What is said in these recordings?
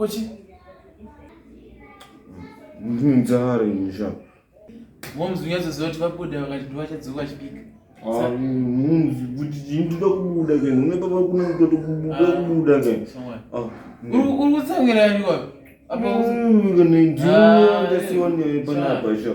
kochi nzara inosha momzi unyatsoziva kuti vabuda vakati ndovachadzoka vachibika ah, mumzi kuti chii ndoda kubuda ke nhume papa kuna kutoto kubuda ah, kubuda ke ah, uri kutsamwira yaniwapi apa ukanendiwa ndasiwa nepanapa sha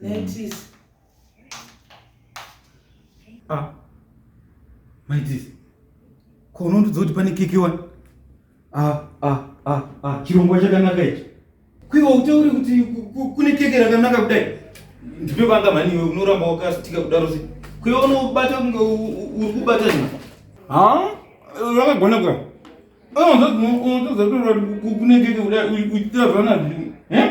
Naitis. Ah. Maitis. Ko unondudza kuti pane keke wani? Ah, ah, ah, ah. Chirongwa chakanaka ichi. Kwiwa utaure kuti kune keke rakanaka kudai. Ndipe banga mani iwe unoramba wakasitika kudaro sei? Kwiwa unobata kunge uri kubata zvino. Ha? Rakagona kwa. Oh, unondudza kuti kune keke kudai uchiita zvana zvino. Eh?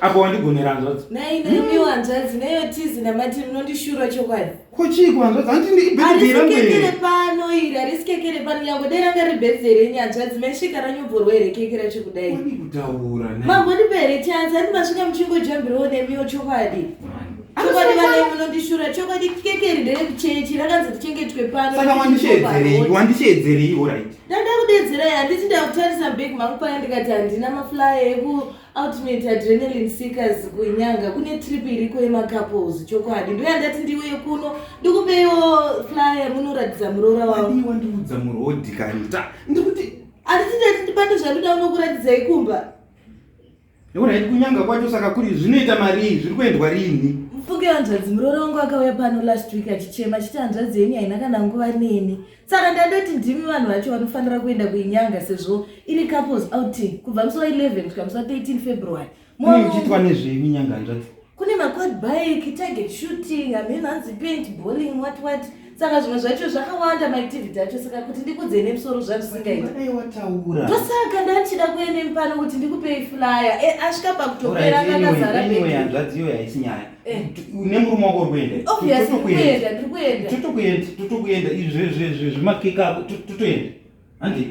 apo wandigonera hanzvadzi nai nemiwo hanzvadzi neyo tizi namati munondishura chokwadi ko chii kuhanzvadzi handindiisikekere pano iri harisikekere pano nyangwe dai ranga ri birthday renyu hanzvadzi maisvika ranyomborwa here keke racho kudai kutaura mambondipa here chanzi handi masvika muchingodyambirawo nemiwo chokwadi chokwadi vanai munondishura chokwadi keke iri nderekuchechi rakanzi tichengetwe pano saka wandisheedzereiwo right ndada kudedzerai handiti ndakutarisa big mangu paya ndikati handina maflyer eku ultimate adrenalin seekers kunyanga kune trip iriko yemacouples chokwadi ndoya ndati ndiuye kuno ndikupewo flyer munoratidza muroora wangu wandiudza murodhi kani ndikuti handiti ndati ndibate zvandoda unokuratidzai kumba Nekuona iti kunyanga kwacho saka kuri zvinoita marii zviri kuendwa rini? Mfunge hanzvadzi muroora wangu akauya pano last week achichema achiti hanzvadzi yenyu haina kana nguva neni. Saka ndandoti ndimi vanhu vacho vanofanira kuenda kuinyanga sezvo iri couples outing kubva musi wa 11 kusvika musi wa 13 February. Mune uchitwa nezvei kunyanga hanzvadzi? kune maquad bike target shooting amheno hanzi paint bowling what what saka zvimwe zvacho zvakawanda maactivity acho saka kuti ndikudzei nemusoro zvavisingaitndosaka ndandichida kuene mupano kuti ndikupei flyer e, asvika pakutopera akakazarahanzvadziyo yaisi nyaya eh. une murume wako urikuendatotokuenda izvezvezvezvemakeka ako totoenda handi